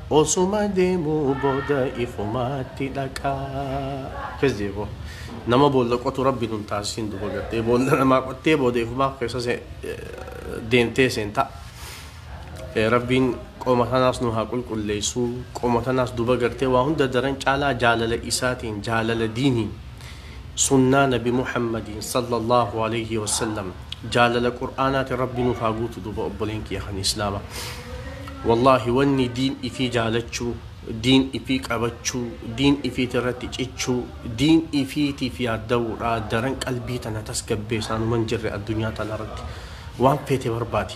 Osuma deemuu booda ifumaatti dhaqa. Akkas jee boo. Nama boolla qotu rabbi nun taasisin duba gartee boolla namaa qottee booda ifumaa keessa se- eh, deemtee seenta. Eh, Rabbiin qoma tanaas nu haa qulqulleessu. Qoma tanaas duba gartee waa hunda daran caalaa jaalala isaatiin jaalala diiniin Sunnaa nabi muhammadiin sallallaahu aleeyhi wassallam jaalala qur'aanaatin rabbi nuuf haa guutu duuba obboleen kiyya kan islaama wallaahi wanni diin ifii jaalachuu diin ifii qabachuu diin ifiiti irratti cichuu diin ifiitiif yaadda'uudha daran qalbii tana tasgabbeesaan uman jirre addunyaa tana irratti waan feete barbaadi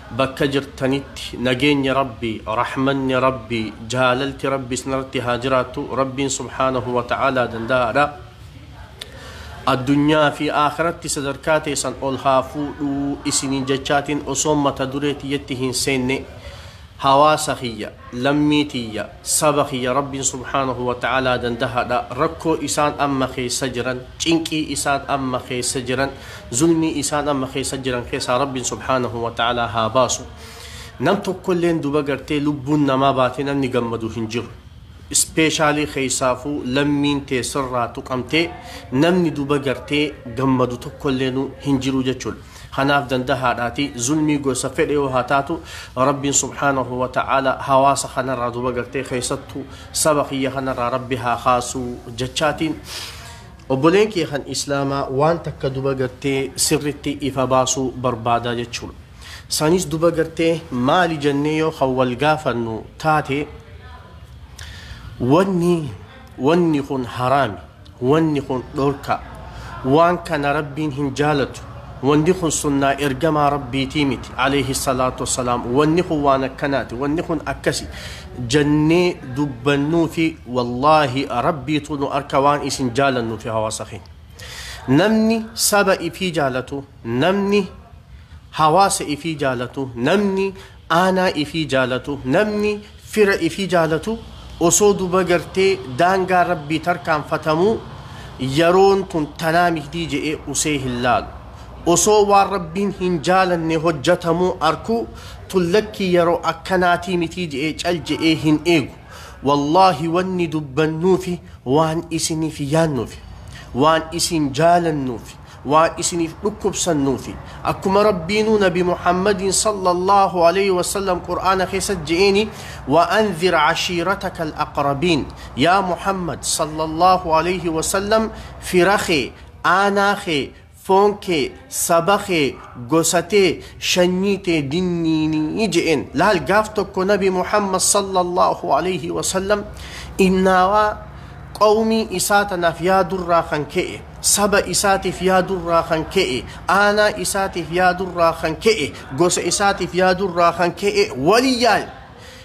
Bakka jirtanitti nageenyi Rabbi, rahmanni Rabbi, jaalalti Rabbi isinirratti haa jiraattu. Rabbiin subhaanahu wa ta'aalaa danda'aadha. Addunyaa fi aakhiratti sadarkaa teessan ol haa fuudhu isiniin jechaatiin osoon mata duree tiyyatti hin seenne hawaasa kiyya, lammii tiyya, Saba kiyya Rabbiin subhaanahu wa ta'aalaa dandahaadha, rakkoo isaan amma keessa jiran, cinqii isaan amma keessa jiran, zulmii isaan amma keessa jiran keessaa Rabbiin subhaanahu wa ta'aalaa haa baasu. Nam tokkolleen duba gartee lubbuun namaa baatee namni gammadu hin jiru. Ispeeshaalii keessaafuu lammiin tee sirraa tuqamtee namni duba gartee gammadu tokkolleenuu hin jiru jechuudha. Kanaaf dandahaadhaati zulmii gosa fedhe yoo haa taatu Rabbiin subhaanahu wa ta'aala hawaasa kanarraa duba gartee keessattu saba kiyya kanarraa Rabbi haa kaasu jechaatiin obboleen kiyya kan islaamaa waan takka duba gartee sirritti ifa baasuu barbaadaa jechuudha. Sanis duba gartee maali jennee yoo kan wal gaafannu taate wanni wanni kun haraami. Wanni kun dhorkaa. Waan kana Rabbiin hin jaalatu. Wanni kun sunnaa ergamaa Rabbiitii miti, aleyhi salaatu wassalaam. Wanni kun waan akkanaati. Wanni kun akkasi. Jannee dubbannuufi wallaahi Rabbiitu nu arka waan isin jaalannuufi hawaasa keenya. Namni saba ifii jaalatu, namni hawaasa ifii jaalatu, namni Aanaa ifii jaalatu namni fira ifii jaalatu osoo duba gartee daangaa Rabbii tarkaanfatamuu yaroon tun tanaa mihdii je'ee usee hin laalu. Osoo waan Rabbiin hin jaalanne hojjatamuu arkuu tun lakkii yaroo akkanaatii mitii je'ee cal je'ee hin eegu. Wallaahi wanni dubbannuufi waan isiniif yaannuufi. Waan isin jaalannuufi. waan isiniif dhukkubsannuufi. Akkuma Rabbiinuu Nabi Muhammadiin sallallaahu aleyhi wasallam Qur'aana keessatti je'eeni, Wa andhir cashiirataka al-aqrabiin, Yaa Muhammad sallallaahu aleyhi wasallam fira kee, aanaa kee, foon kee, saba kee, gosa tee, shanyii tee dinniini je'een. Laal gaaf tokko Nabi Muhammad sallallaahu aleyhi wasallam innaawaa qawmii isaa tanaaf yaadurraa kan ka'e, saba isaatiif yaadurraa kan ka'e, aanaa isaatiif yaadurraa kan ka'e, gosa isaatiif yaadurraa kan ka'e waliyyaan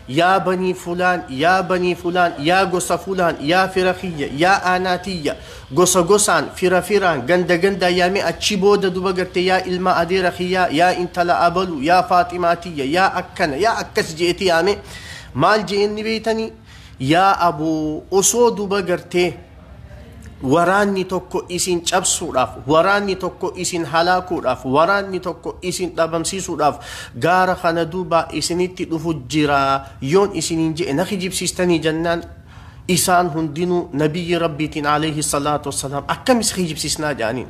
yaa banii fulaan, yaa banii fulaan, yaa gosa fulaan, yaa fira kiyya, yaa aanaa tiyya, gosa gosaan, fira firaan, ganda gandaan yaamee achi booda duba garte yaa ilma adeera kiyyaa, yaa intala abalu, yaa faaximaa tiyya, yaa akkana, yaa akkas je'eeti yaame. Maal je'een ni beeytanii? Yaa aboo osoo duba gartee waraanni tokko isin cabsuudhaaf waraanni tokko isin halaakuudhaaf waraanni tokko isin dhabamsiisuudhaaf gaara kana duubaa isinitti dhufu jira yoon isiniin je'e na kijibsiistanii jennaan isaan hundinuu nabiyyi rabbiitiin alayhi salaatu wassalaam akkamis kijibsiisnaa ja'aniin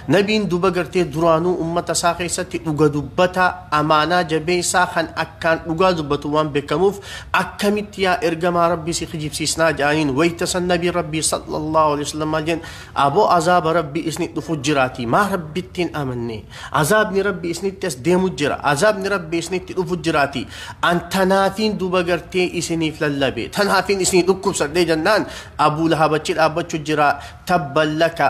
Nabiin duba gartee duraanuu ummata isaa keessatti dhuga dubbataa, amaanaa jabeessaa kan akkaan dhugaa dubbatu waan bekkamuuf akkamitti yaa ergamaa Rabbii si kijibsiisnaa ja'aniin wayta san Nabiin Rabbii sallallaahu aleyhi wasallam maal ja'an aboo azaaba Rabbii isnit dhufu jiraatii maa Rabbitti hin amanne azaabni Rabbii isnitti as deemu jira azaabni Rabbii isnitti dhufu jiraatii an tanaafiin duba gartee isiniif lallabe tanaafiin isinii dhukkubsadhee jannaan Abuu Lahab achi dhaabbachu jira tabban laka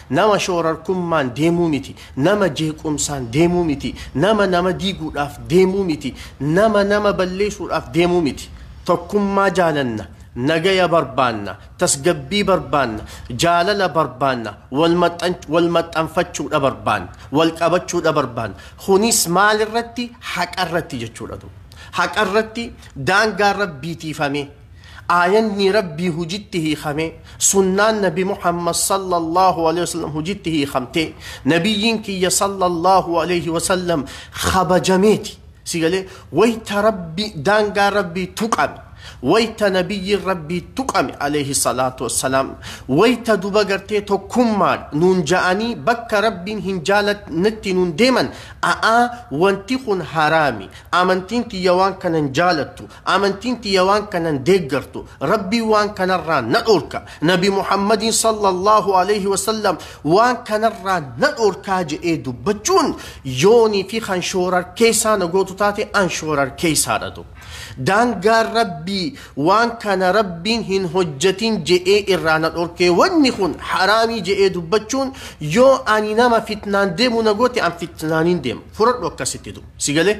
Nama shoorarkummaan deemuu miti, nama jeequmsaan deemuu miti, nama nama diiguudhaaf deemuu miti, nama nama balleesuudhaaf deemuu miti. Tokkummaa jaalanna, nagaya barbaanna, tasgabbii barbaanna, jaalala barbaanna, wal maxxanfachuudha barbaanna, wal qabachuudha barbaanna. Kunis maalirratti? Haqarratti jechuudha. Haqarratti daangaa Rabbii tiifamee. Aayannii Rabbii hujitti hiikamee, sunnaan Nabi Muhammad sallallahu aleyhi wa sallam hujitti hiikamtee, Nabiyyiin kiyya sallallahu aleyhi wa sallam kabajameeti. Si galee? Wayta Rabbi, daangaa Rabbii tuqame, wayta Nabiyyiin Rabbii tuqame aleyhi salaatu wa salaam, wayta duba gartee tokkummaadha nuun ja'anii bakka Rabbiin hin jaalatnetti nuun deeman, a'aa wanti kun haraami, amantiin tiyya waan kana hin jaalattu, Amantiin tiyya waan kanan deeggartu, Rabbiin waan kanarraa na dhoorka, Nabi Muhammadiin sallallaahu alayhi wa sallam waan kanarraa na dhoorkaa jedhee dubbachuun yoonii fi kan shoorarkeessaa na gootu taate an shoorarkeessaadha tu. Daangaan Rabbii waan kana Rabbiin hin hojjatin jedhee irraa na dhoorkee wanni kun haraamii jedhee dubbachuun yoo ani nama fitnaan deemu na goote an fitnaaniin deema. Furadhu akkasitti tu. Si galee?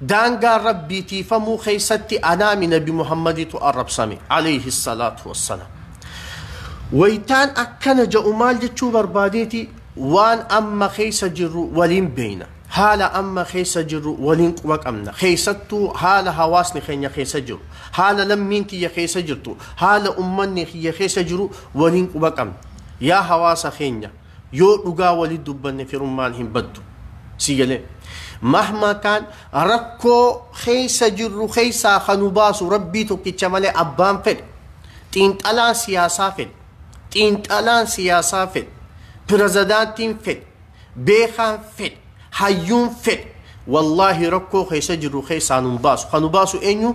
Daangaa Rabbii tiifamuu keessatti anaami Nabi Muhammaditu arrabsame, aleyhi salaatu wassalaam. Waytaan akkana ja'u maal jechuu barbaadeeti? Waan amma keessa jirru waliin beeyna. Haala amma keessa jirru waliin quba qabna. Keessattuu haala hawaasni keenya keessa jiru, haala lammiin tiyya keessa jirtu, haala ummanni kiyya keessa jiru waliin quba qabna. Yaa hawaasa keenya! Yoo dhugaa wali dubbanne firummaan hin baddu. Sii galee? Mahma kaan rakkoo keessa jirru keessaa kan nu baasu Rabbii tokkicha malee abbaan fedhe, xiinxalaan siyaasaa fedhe, xiinxalaan siyaasaa fedhe, pirezidaantiin fedhe, beekaan fedhe, hayyuun fedhe wallaahi rakkoo keessa jirru keessaa nu hin baasu. Kan nu baasu eenyu?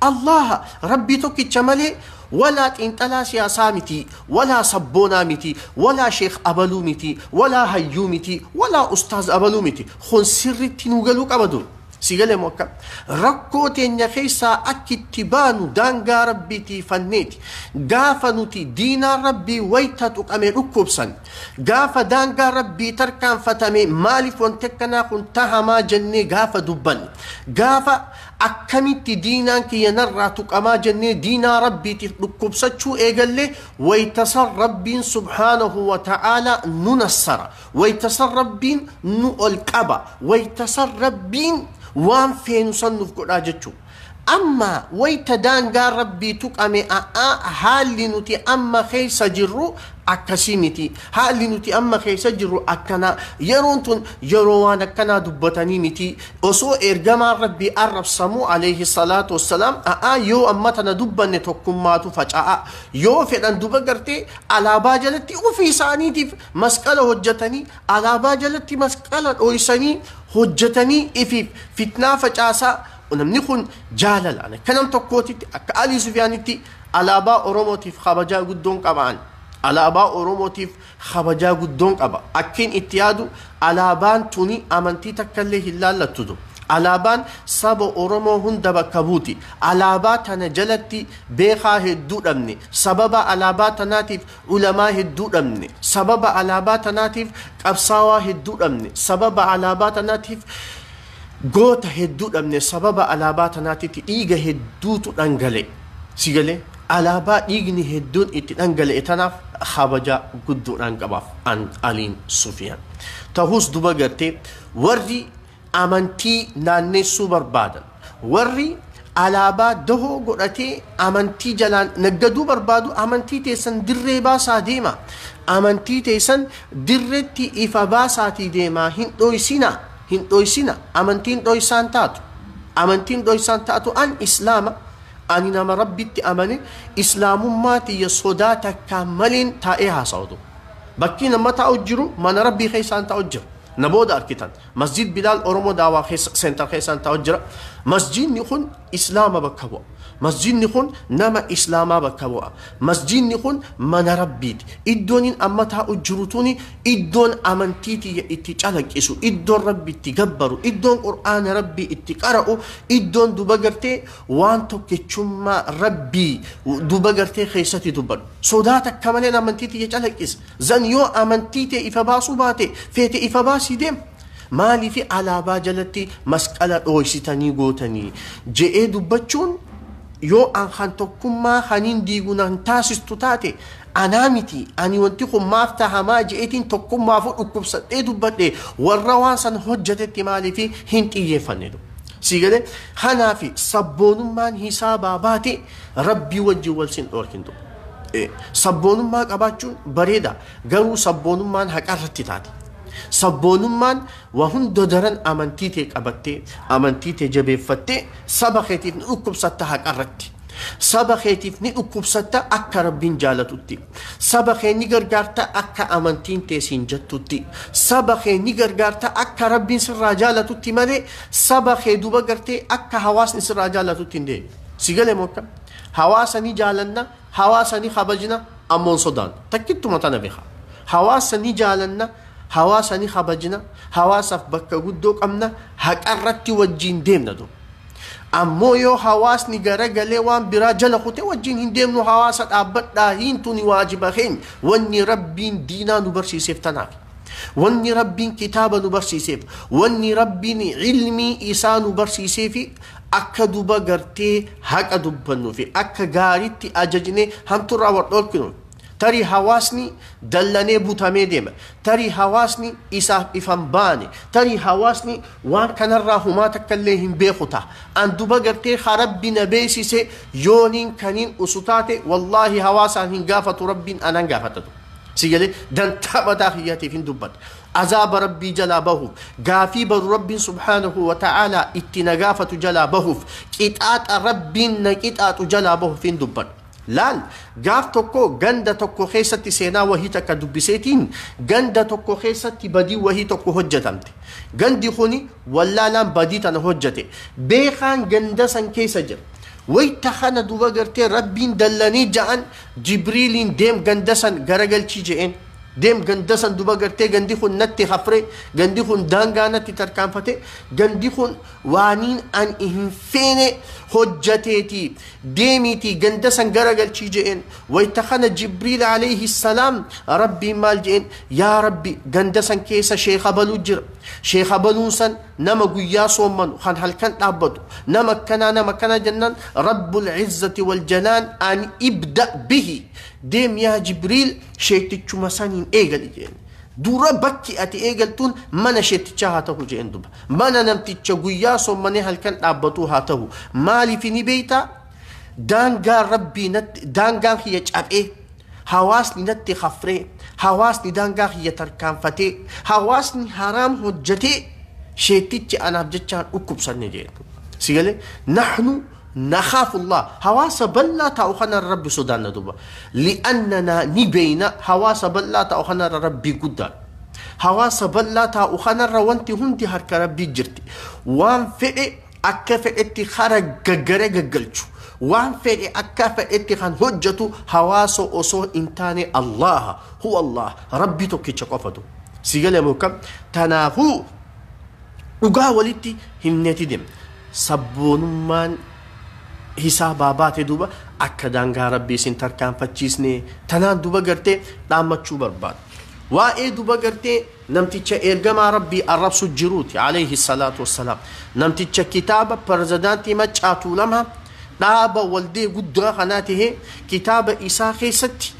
Allaaha, Rabbii tokkicha malee, walaa xiinxalaa siyaasaa miti, walaa sabboonaa miti, walaa sheekh abaluu miti, walaa hayyuu miti, walaa ustaaz abaluu miti. Kun sirriitti nuu galuu qaba dur. Sii galee moo akkam? Rakkoo teenya keessaa akki itti baanu daangaa Rabbii tiifanneeti. Gaafa nuti diinaan Rabbii wayta tuqame dhukkubsan. Gaafa daangaa Rabbii tarkaanfatame maaliif wanti akkanaa kun tahamaa jennee gaafa dubbannu. Gaafa Akkamitti diinaan kiyya narraa tuqamaa jennee diinaa Rabbiitiif dhukkubsachuu eegalle, wayta san Rabbiin subhaanahu wa ta'aalaa nu nassara, wayta san Rabbiin nu ol qaba, wayta san Rabbiin waan feenu san nuuf godhaa jechu'u. Amma wayta daangaan Rabbii tuqame a'aa haalli nuti amma keessa jirru akkasii miti. Haalli nuti amma keessa jirru akkanaa. Yeroon tun yeroo waan akkanaa dubbatanii miti. Osoo Eergamaan Rabbii arrabsamuu Aleeyhi salaatu wassalaam a'aa yoo amma tana dubbanne tokkummaatu faca'a. Yoo fedhan duba gartee alaabaa jalatti ofii isaaniitiif masqala hojjatanii alaabaa jalatti masqala dhooysanii hojjatanii ifiif fitnaa facaasaa namni kun jaalalaan akka nam tokkootitti akka Alii Sufyaanitti alaabaa Oromootiif kabajaa guddoon qabaan. Alaabaa Oromootiif kabajaa guddoon qaba. Akkin itti yaadu alaabaan tuni amantii takkallee hin laallattutu. Alaabaan saba Oromoo hunda bakka buuti. Alaabaa tana jalatti beekaa hedduu dhabne. Sababa alaabaa tanaatiif ulamaa hedduu dhabne. Sababa alaabaa tanaatiif qabsaawaa hedduu dhabne. Sababa alaabaa tanaatiif goota hedduu dhabne. Sababa alaabaa tanaatitti dhiiga hedduutu dhangale. Si galee? Alaabaa dhiigni hedduun itti dhangala'e tanaaf khabaja guddoodhaan qabaaf an, Aliin, Sufiyaan. Tahuus duba gartee warri amantii naanneessuu barbaadan, warri alaabaa dahoo godhatee amantii jalaan naggaduu barbaadu amantii teessan dirree baasaa deemaa, amantii teessan dirretti ifa baasaatii deemaa hin dhooysinaa, hin dhooysinaa, amantiin dhooysaan taatu, amantiin dhooysaan taatu an, Islaama, Ani nama Rabbitti amane Islaamummaa tiyya sodaa takkaan maliin taa'ee haasawa duuba. Bakkiin amma taa'u jiru mana Rabbii keessaan taa'u jira. Na booda arkitan. Masjiid Bilaal Oromo Dawah keessa, Center keessaan taa'u jira. Masjiidni kun Islaama bakka bu'a. Masjiidni kun nama Islaamaa bakka bu'a. Masjiidni kun mana Rabbiiti. Iddoonin amma taa'u jiru tuni iddoon amantii tiyya itti calaqqisu, iddoon Rabbi itti gabbaru, iddoon Qur'aana Rabbii itti qara'u, iddoon duba gartee Waan tokkichummaa Rabbii duba gartee keessatti dubbadhu. Sodaa takka maleen amantii tiyya calaqqisi. Zan yoo amantii tee ifa baasuu baate feete ifa baasii deem. Maaliif alaabaa jalatti masqala dhooysitanii gootanii? je'ee dubbachuun yoo an kan tokkummaa kaniin diigu na hin taasistu taate Anaa miti, ani wanti kun maaf tahamaa je'eetiin tokkummaafuu dhukkubsadhee dubbadhe, warra waan san hojjatetti maaliif hin xiyyeeffanne du. Sii galee? Kanaafi, sabboonummaan hisaabaa baate Rabbii wajjin wal sin dhoorkin du. Ee, sabboonummaa qabaachuun bareeda, garuu sabboonummaan haqarratti taate. Sabboonummaan wa hunda daran amantii tee qabattee, amantii tee jabeeffattee, saba keetiif ni dhukkubsatta haqarratti. Saba keetiif ni dhukkubsatta akka Rabbiin jaalatutti. Saba kee ni gargaarta akka amantiin tee siin jettutti. Saba kee ni gargaarta akka Rabbiin sirraa jaalatutti malee saba kee duba gartee akka hawaasni sirraa jaalatutti hin deemi. Si gale moo akka? Hawaasa ni jaalanna, hawaasa ni kabajna, ammoo hin sodaannu. Takkittuma tana bekaa. Hawaasa ni jaalanna, hawaasa ni kabajna, hawaasaaf bakka guddoo qabna, haqarratti wajjiin deemna duba. Ammoo yoo hawaasni gara galee waan biraa jala kute wajjin hin deemnu hawaasa dhaabbadhaa hiin tuni waajiba keenya wanni rabbiin diinaa nu barsiiseef tanaafi. Wanni rabbiin kitaaba nu barsiiseef wanni rabbiin ilmii isaa nu barsiiseefi akka duba gartee haqa dubbannufi akka gaaritti ajajnee hamturraa wal dhoorkinuuf. Tarii hawaasni dallanee butamee deema, tarii hawaasni isaaf ifa hin baane, tarii hawaasni waan kanarraa humaa takka illee hin beeku taha. An duba gartee ka Rabbi na beeysise yooniin kaniin usu taate wallaahi hawaasaan hin gaafatu Rabbiin anaan gaafata duba. Si galee dantaa mataa kiyyatiif hin dubbadha. Azaaba Rabbii jalaa bahuuf, gaafii baru Rabbiin subhaanahu wa ta'aalaa itti na gaafatu jalaa bahuuf, qixaaxa Rabbiin na qixaaxu jalaa bahuuf hin dubbadha. Laal, gaaf tokko ganda tokko keessatti seenaa wahii takka dubbiseetiin, ganda tokko keessatti badiin wahii tokko hojjatamte. Gandi kuni wallaalaan badii tana hojjate. Beekaan ganda san keessa jira. Wayta kana duba gartee Rabbiin dallanii ja'an Jibriiliin deem ganda san garagalchii je'een. Deem ganda san duba gartee gandi kun natti hafre, gandi kun daangaa natti tarkaanfate, gandi kun waaniin an hin feene hojjateeti. deemiitii ganda san garagalchii je'een. Wayta kana Jibriil alayhi salaam Rabbiin maal je'een? Yaa Rabbi ganda san keessa sheekha baluu jira. Sheekha baluun san nama guyyaa soommanu kan halkan dhaabbatu. Nama akkanaa nama akkanaa jennaan Rabbul izzati wal jalaan an ibda bihi. Deem yaa Jibriil sheettichuma saniin eegali je'een. Dura bakki ati eegaltuun mana sheettichaa haa tahu je'een duba. Mana namticha guyyaa soommanee halkan dhaabbatuu haa tahu. Maaliifi ni beektaa? Daangaan Rabbii natti, daangaan kiyya cabee, hawaasni natti kafree, hawaasni daangaa kiyya tarkaanfatee, hawaasni haraam hojjatee, sheektichi anaaf jechaan dhukkubsanne jeen. Si galee? Nahnu Nakhaafu Allaah, hawaasa bal'aa taa'u kanarra Rabbi sodaanna duuba. Li'annanaa ni beeyna hawaasa bal'aa taa'u kanarra Rabbii guddaan. Hawaasa bal'aa taa'u kanarra wanti hundi harka Rabbii jirti. Waan fedhe akka fedhetti kara gaggare gaggalchu, waan fedhe akka fedhetti kan hojjatu hawaasa osoo hin taane Allaaha. Huwa Allaah, Rabbii tokkicha qofatu. Si gale moo akkam? Tanaafuu. Dhugaa walitti himneeti demna. Sabboonummaan hisaabaa baate duuba akka daangaa Rabbii isin tarkaanfachiisne tanaan duba gartee dhaammachuu barbaada. Waa'ee duba gartee namticha Eergamaa Rabbii arrabsu jiruuti aleyhi salaatu wassalaam. Namticha kitaaba Perzadaantii Maccaa Tuulamaa dhaaba waldee guddaa kanaa tahee kitaaba isaa keessatti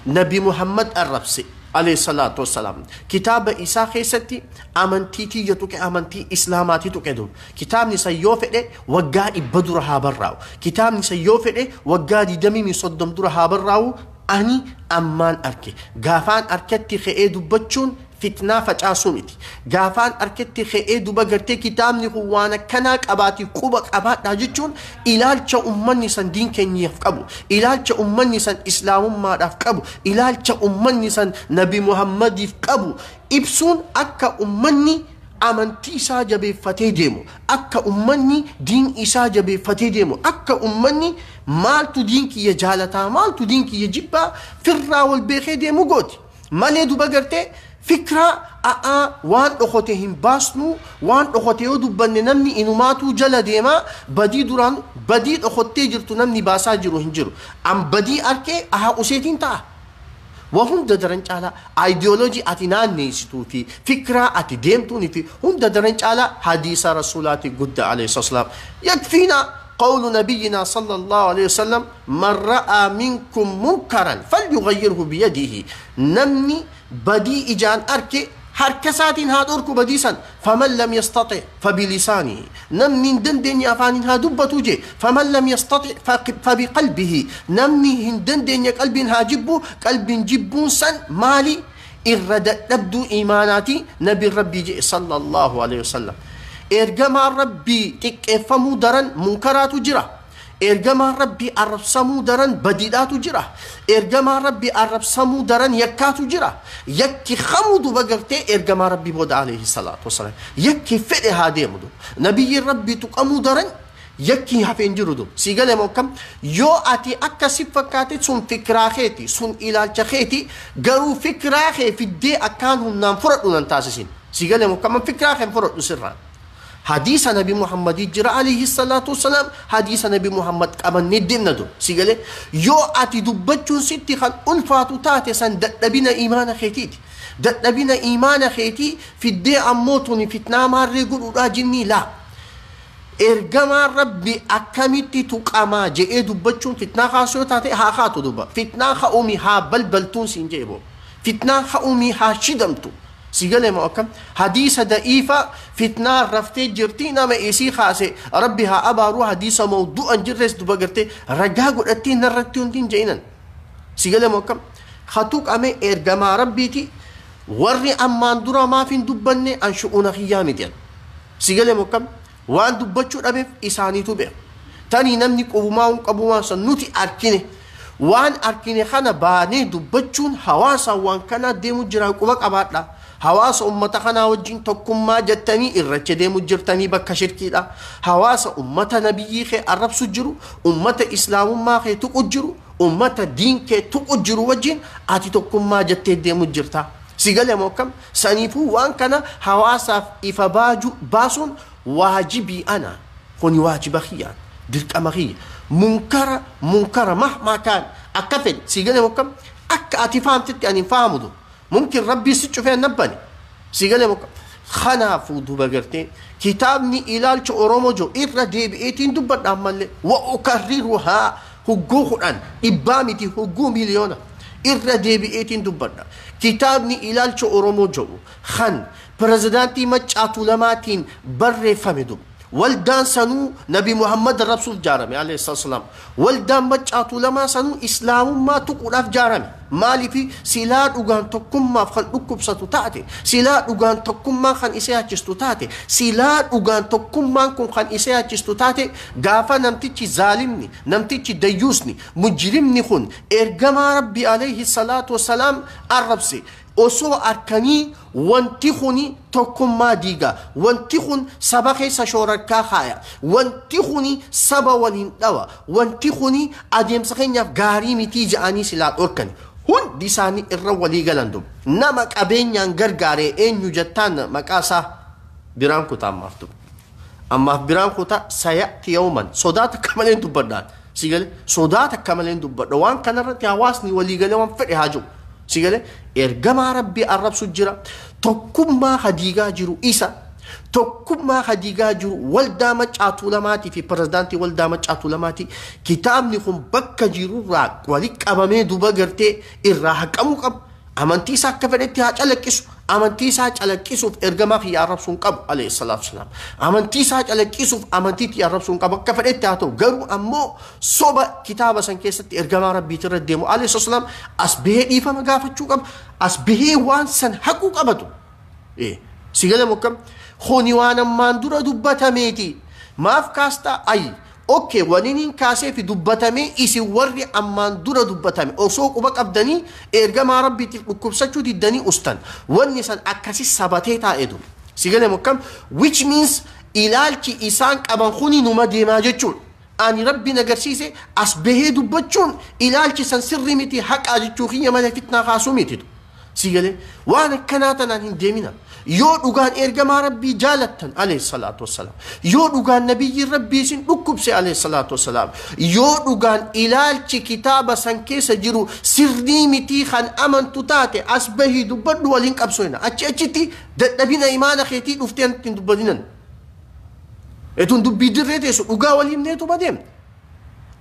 Nabi Muhammad arrabse. Aleeyhi salaatu wassalaam kitaaba isaa keessatti amantii tiyya tuqe amantii islaamaati tuqe dur kitaabni san yoo fedhe waggaa dhibba dura haa barraa'u kitaabni san yoo fedhe waggaa digdamii min soddom dura haa barraa'u ani ammaan arke gaafaan arketti ka'ee dubbachuun fitnaa facaasuu miti gaafaan arketti ka'ee duba gartee kitaabni kun waan akkanaa qabaati quba qabaadhaa jechuun ilaalcha ummanni san diin keenyaaf qabu, ilaalcha ummanni san Islaamummaadhaaf qabu, ilaalcha ummanni san Nabi Muhammadiif qabu ibsuun akka ummanni amantii isaa jabeeffatee deemu, akka ummanni diin isaa jabeeffatee deemu, akka ummanni maaltu diin kiyya jaalataa, maaltu diin kiyya jibbaa firraa wal beekee deemu gooti. Malee duba garte fikra a'aa waan dhokote hin baasnu waan dhokote yoo dubbanne namni inumaatuu jala deema badii duraan badii dhokottee jirtu namni baasaa jiru hin jiru an badii arkee ahaa useetiin ta'a wa hunda daran caalaa ideology ati naanneessituu fi fikraa ati deemtuun fi hunda daran caalaa hadiisa rasuulaati gudda alayhi salaam yakfiina qawlu nabiyyinaa sallallahu alayhi wasallam Man ra'aa minkum munkaran falyughayyirhu biyadihi, Namni badii ijaan arke harka isaatiin haa dhorku badii san, faman lam yastaxi' fabilisaanihi, Namni hin dandeenye afaaniin haa dubbatu jee, faman lam yastaxi' fabiqalbihi, Namni hin dandeenye qalbiin haa jibbu, qalbiin jibbuun san maali? Irra dadhabduu iimaanaati, Nabiin Rabbii je'e sallallaahu aleyhi wasallam. Ergamaan Rabbii xiqqeeffamuu daran munkaraatu jira. Ergamaan Rabbii arrabsamuu daran badiidhaatu jira. Ergamaan Rabbii arrabsamuu daran yakkaatu jira. Yakki kamuu duba gartee ergamaa Rabbii booda alayhi salaatu wasalaam. Yakki fedhe haa deemu duba. Nabiyyiin Rabbii tuqamuu daran yakki hafe hin jiru duba. Sii gale moo akkam? Yoo ati akka si fakkaate sun fikiraa keeti, sun ilaalcha keeti, garuu fikiraa kee fiddee akkaan humnaan fudhadhu nan taasisin. Sii gale moo akkam? An fikiraa kee hin fudhadhu sirraa. Hadiisa Nabi Muhammadii jira alayhi salaatu wassalaam hadiisa Nabi Muhammad qabannee deemna dur. Si galee? Yoo ati dubbachuun sitti kan ulfaatu taate san dadhabina iimaana keetiiti. Dadhabina iimaana keetii fiddee ammoo tuni fitnaa maarree godhuudhaa jinnii laa. Ergamaan Rabbi akkamitti tuqamaa je'ee dubbachuun fitnaa kaasu yoo taate haa kaatu duba. Fitnaa ka'uumi haa balbaltuun siin je'e boo. Fitnaan ka'uumi haa shidamtu. Si gale moo akkam? Hadiisa da'iifa fitnaan raftee jirti nama isii kaase rabbi haa abaaru hadiisa mawdu'a hin jirres duba gartee ragaa godhattee narratti wanti hin je'inan. Si gale moo akkam? Ka tuqame ergamaa rabbiiti warri ammaan dura maaf hin dubbanne an shu'uuna kiyyaa miti an. Si gale moo akkam? Waan dubbachuu dhabeef isaaniitu beeka. Tanii namni qubumaa hin qabu waan san nuti arkine. Waan arkine kana baanee dubbachuun hawaasaan waan kanaa deemu jiraa quba qabaadha. Hawaasa ummata kanaa wajjiin tokkummaa jattanii irracha deemu jirtanii bakka shirkiidha. Hawaasa ummata nabiyyii kee arrabsu jiru, ummata islaamummaa kee tuqu jiru, ummata diin kee tuqu jiru wajjiin ati tokkummaa jattee deemu jirta. Si gale moo akkam? Saniifuu waan kana hawaasaaf ifa baaju baasuun waajibii ana. Kuni waajiba kiyya. Dirqama kiyya. Munkara munkara mahmaa kaan akka fedhe sii galee mokka akka ati fahamtetti ani hin fahamudu. Mumkin Rabbii si cufee na bane. Sii galee mokka kanaafuu duba gartee kitaabni ilaalcha Oromoo jiru irra deebi'eetiin dubbadha ammallee wa ukarriruhaa Hugguu kudhan, dhibbaa miti hugguu miliyoona, irra deebi'eetiin dubbadha. Kitaabni Ilaalcha Oromoo jedhu kan Pirezidaantii Maccaa Tuulamaatiin barreeffame dub. Waldaan sanuu Nabi Muhammad arrabsuuf jaarame, aleyh salaam. Waldaan Maccaa Tuulamaa sanuu Islaamummaa tuquudhaaf jaarame. Maaliifi? Silaa dhugaan tokkummaaf kan dhukkubsatu taate, silaa dhugaan tokkummaan kan isee hachistu taate, silaa dhugaan tokkummaan kun kan isee hachistu taate, gaafa namtichi zaalimni, namtichi dayyuusni, mujrimni kun Ergamaa Rabbii, aleyhi salaatu wa salaam, arrabse, osoo arkanii, Wanti kun tokkummaa diiga. Wanti kun saba keessa shoorarkaa kaaya. Wanti kun saba waliin dhawa. Wanti kun adeemsa keenyaaf gaarii mitii ja'anii silaa dhorkani. Hundi isaanii irra walii galan dub. Nama qabeenyaan gargaare eenyu jattaan maqaa isaa biraan kuta ammaaf dub. Ammaaf biraan kuta saya'ti yawman. Sodaa takka maleen dubbadhaan. Sii galee? Sodaa takka malee hin dubbadha. Waan kana irratti hawaasni walii galee waan fedhe haa jiru. Sii galee? Ergamaa Rabbii arrabsu jira. Tokkummaa ka diigaa jiru isa. Tokkummaa ka diigaa jiru waldaa Maccaa Tuulamaatii fi pirezidaantii waldaa Maccaa Tuulamaati. Kitaabni kun bakka jirurraa walitti qabamee duba gartee irraa haqamuu qaba. Amantii isaa akka fedhetti haa calaqqisu. Amantii isaa calaqqisuuf ergamaa kiyya arrabsuu hin qabu. Alayhi salaatu wasalaam. Amantii isaa calaqqisuuf amantii tiyya arrabsuu hin qabu. Akka fedhetti haa ta'u. Garuu ammoo soba kitaaba san keessatti ergamaa rabbiiti irra deemu. Alayhi salaatu wasalaam as bahee dhiifama gaafachuu qaba. As bahee waan san haquu qabatu. Eh, si gale mokkam? Kuni waan ammaan dura dubbatameeti. Maaf kaastaa? Ayi. Ok waninin kaaseefi dubbatamee isin warri ammaan dura dubbatame osoo quba qabdanii eergamaa rabbiitiif dhukkubsachuu diddanii ustan wanni san akkasi sabatee taa'e du. Si gale mo akkam which means ilaalchi isaan qaban kuni numa deemaa jechuudha ani rabbi na garsiise as bahee dubbachuun ilaalchi san sirri miti haqaa jechuu kiyya malee fitnaa kaasuu miti du. Sii galee waan akkanaa tanaan hin deemina. Yoo dhugaan ergamaa Rabbii jaalattan alayhi salaatu wassalaam. Yoo dhugaan nabiyyiin Rabbii isin dhukkubse alayhi salaatu wassalaam. Yoo dhugaan ilaalchi kitaaba san keessa jiru sirrii mitii kan amantu taate as bahii dubbadhu waliin qabsoina. Achi achitti dadhabina imaana keetii dhuftee nutti hin dubbatinan. Etuun dubbii dirree teessu dhugaa wal himneetuma deemna.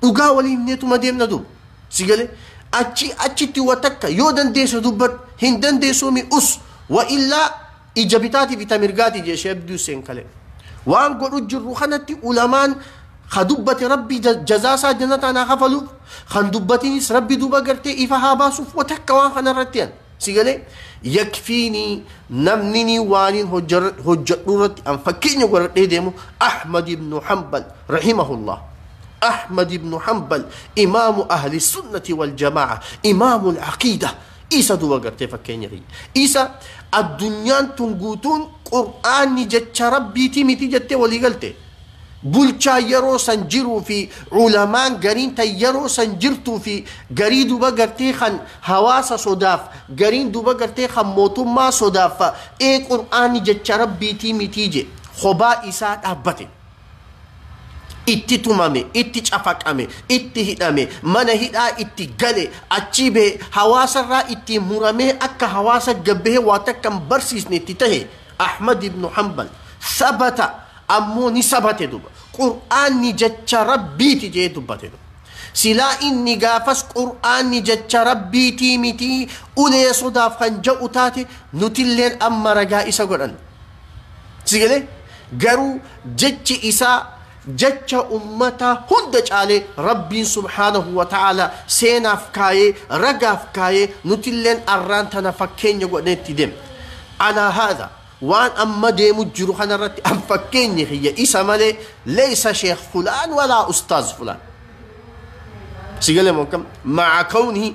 Dhugaa waliin neetuma deemna dur. Si galee achi achitti wa takka yoo dandeesse dubbadhu hin dandeessuu mi us wa illaa ija bitaatii fi tamirgaatii jee Shee Abdii Hussein kalee. Waan godhu jirru kanatti ulamaan ka dubbate rabbi ja- jazaa isaa jannataan haa kafaluuf kan dubbatinis rabbi duuba gartee ifa haa baasuuf wa takka waan kanarratti an. Si galee? Yakfiinii namninii waaniin hojjadhuu irratti an fakkeenya godhadhee deemu Ahmad ibnu Hanbal rahimahullah. Ahmad ibnu Hanbal imaamu ahli sunnati wal jamaa'a imaamu al-aqiida isa duba gartee fakkeenya kiyya. Isa addunyaan tun guutuun qur'aanni jecha rabbiitii miti jettee walii galte. Bulchaan yeroo san jiruu fi ulamaan gariin tan yeroo san jirtuu fi garii duba gartee kan hawaasa sodaaf, gariin duba gartee kan mootummaa sodaaf fa, ee qur'aanni jecha Rabbiitii mitii je, kobaa isaa dhaabbate. Itti tumame, itti cafaqame, itti hidhame, mana hidhaa itti gale, achii bahe, hawaasarraa ittiin muramee akka hawaasa gad bahee waa takka hin barsiisne itti tahe. Ahmad ibnu Hanbal, Sabata ammoo ni sabate duba. Qur'aanni jecha Rabbiiti je'ee dubbate duba. Silaa inni gaafas Qur'aanni jecha Rabbiitii mitii ulee sodaaf kan ja'u taate nutilleen amma ragaa isa godhanna. Si galee? Garuu jechi isaa Jecha ummataa hunda caalee Rabbiin subhaanahu wa ta'aalaa seenaaf kaayee, ragaaf kaayee, nutilleen arraan tana fakkeenya godhannee itti deemna. Alaa haadha, waan amma deemu jiru kanarratti an fakkeenyi kiyya isa malee leysa sheekh fulaan walaa ustaaz fulaan. Si gale moo akkam? Ma'a kawnihi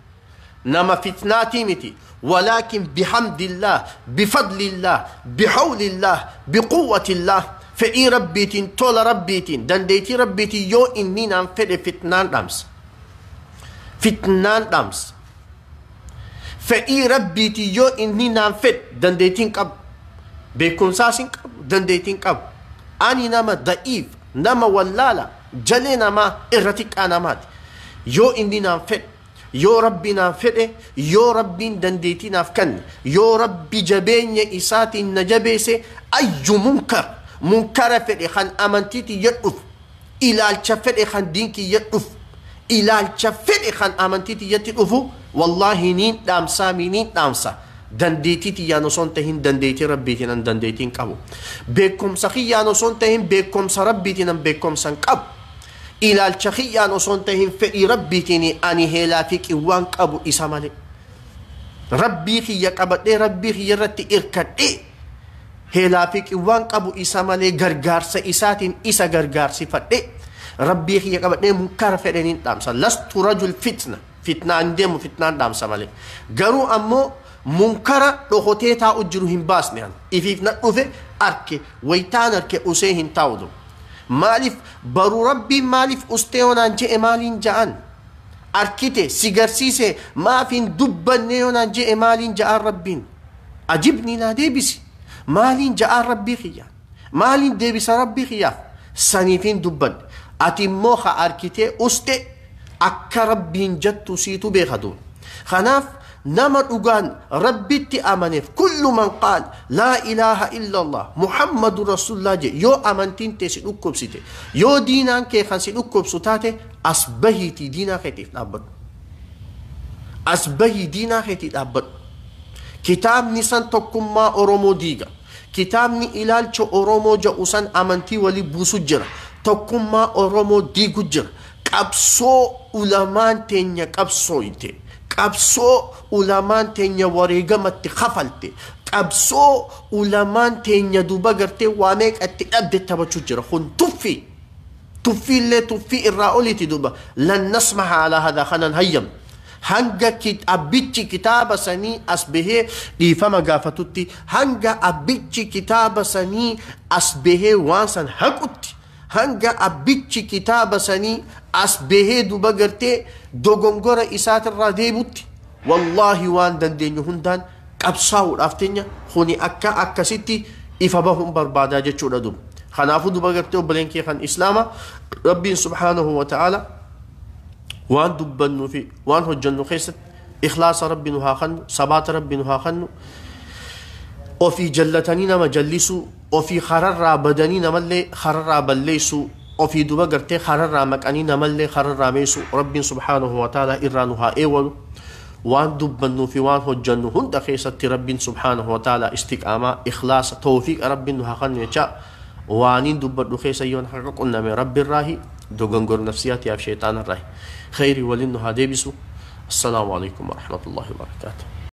nama fitnaatii miti walaakin bihamdillaah bifadlillaah bihawlillaah biquwwatillaah fedhii rabbiitiin tola rabbiitiin dandeeytii rabbiitiin yoo inni naan fedhe fitnaan dhaamsa fitnaan dhaamsa fedhii rabbiitiin yoo inni naan fedhe dandeeytiin qabu beekumsaas hin qabu dandeeytiin qabu ani nama da'iif Nama wallaala, jalee namaa, irra xiqqaa namaati. Yoo inni naan fedhe, yoo Rabbi naan fedhe, yoo Rabbiin dandeetii naaf kanne, yoo Rabbi jabeenya isaatiin na jabeese, ayyu munkar, munkara fedhe kan amantii tiyya dhufu, ilaalcha fedhe kan diin kiyya dhufu, ilaalcha fedhe kan amantii tiyyatti dhufu, wallaahi niin dhaamsaamii niin dhaamsa. Dandeetii tiyyaan osoo hin tahin dandeetii Rabbiitiin an dandeetii hin qabu. Beekkomsa kiyyaan osoo hin tahin beekkomsa Rabbiitiin an beekkomsa hin qabu. Ilaalcha kiyyaan osoo hin tahin fedhii Rabbiitiin ani heelaa fi qiwwaan qabu isa malee. Rabbii kiyya qabadhee Rabbii kiyya irratti irkadhee heelaa fi qiwwaan qabu isa malee gargaarsa isaatiin isa gargaarsifadhee Rabbii kiyya qabadhee munkara fedheen hin dhaamsa. Lastu rajul fitna. Fitnaa hin deemu fitnaan dhaamsa malee. Garuu ammoo munkara dhokotee taa'u jiru hin baasne an. Ifiif na dhufe arke waytaan arke usee hin taa'u du. Maaliif baru rabbiin maaliif ustee yoo naan je'e maaliin ja'an? Arkite si garsiise maaf hin dubbanne yoo naan je'e maaliin ja'aan rabbiin? Ajibnii naa deebisi. Maaliin ja'aan rabbii kiyya? Maaliin deebisa Rabbii kiyyaaf? Saniif hin dubbanne. Ati immoo ka arkitee us'e akka Rabbiin jattu siitu beeka duuba. Kanaaf nama dhugaan Rabbitti amaneef kullu man qaal laa ilaaha illallah Muhammadun Rasullaa je'e yoo amantiin tee si dhukkubsite, yoo diinaan kee kan si dhukkubsu taate as bahiitii diinaa keetiif dhaabbadhu. As bahii diinaa keetii dhaabbadhu. Kitaabni san tokkummaa Oromoo diiga. Kitaabni ilaalcha Oromoo ja'u san amantii wali buusu jira. Tokkummaa Oromoo diigu jira. Qabsoo ulamaan teenya qabsooyte, qabsoo ulamaan teenya wareegama itti kafalte, qabsoo ulamaan teenya duuba gartee waa meeqa itti dhabde tabachu jira. Kun tuffii. Tuffiillee tuffii irraa oliiti duuba. Lan nasmaha alaa hadhaa kana hin hayyamnu. Hanga abbichi kitaaba sanii as bahee dhiifama gaafatutti, hanga abbichi kitaaba sanii as bahee waan san haqutti, hanga abbichi kitaaba sanii as bahee duba gartee dogongora isaatirraa deebutti, wallaahi waan dandeenyu hundaan qabsaawuudhaaf tenya kuni akka akkasitti ifa bahuun barbaadaa jechuudha duba. Kanaafu duba gartee obboleen kee kan islaama Rabbiin subhaanahu wa ta'aala waan dubbannuu fi waan hojjannu keessatti ikhlaasa rabbi nu haa kennu sabaata rabbi nu haa kennu ofii jallatanii nama jallisuu ofii kararraa badanii namallee kararraa balleessuu ofii duba gartee kararraa maqanii namallee kararraa meessuu rabbiin subhaanahu wa ta'ala irraa nu haa eewalu waan dubbannuu fi waan hojjannu hunda keessatti rabbiin subhaanahu wa ta'ala istiqaamaa ikhlaasa tawfiiqa rabbiin nu haa kennu jechaa Waaniin dubbadhu keessa yoon haqa qunname Rabbirraahi, dogongor nafsiyaatiyaaf sheyxaanarraahi. Kheyrii waliin nu haa deebisu. Assalaamu Aleykum Warahmatullaahi Wabarakaatuh.